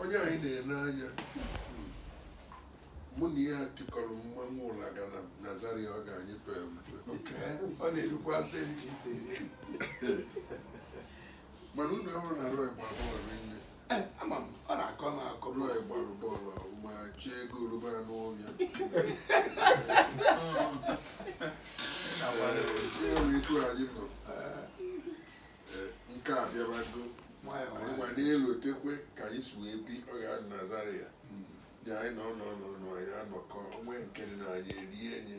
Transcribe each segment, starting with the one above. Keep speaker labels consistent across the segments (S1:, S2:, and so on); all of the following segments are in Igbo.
S1: onye anyị na-ele
S2: anya mụ na ya tikọrọ mmanwụ ụlaga na Zaria ọga anyị pe ọ
S1: na-erukwa asị ka isi
S2: mana unu ahụrụ na Roy gbara bọọlụ rinne Eh, ama m
S1: ọ na-akọ m akọ m Roy gbara
S2: bọọlụ ọfụma chie ego oroma n'ụlọ ya etu anyị nọ Eh, nke a bịabago nwayọọ anyị gwa na-elotekwe ka anyị si wee bi ọ ga-adị na Zaria dị anyị nọ nọ nọ nọ anyị anọkọ onwe nke dị na anyị erie enye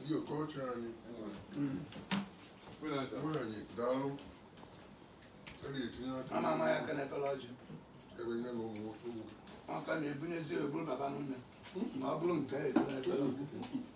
S2: Ndị okocha anyị nwanyị daalụ a na-etinye aka ama ama ya aka n'efere
S1: ọjị ebe nye
S2: na ụmụaka
S1: na-ebunyezi eburu baba n'ụlọ ma ọ bụrụ nke a eburu ebere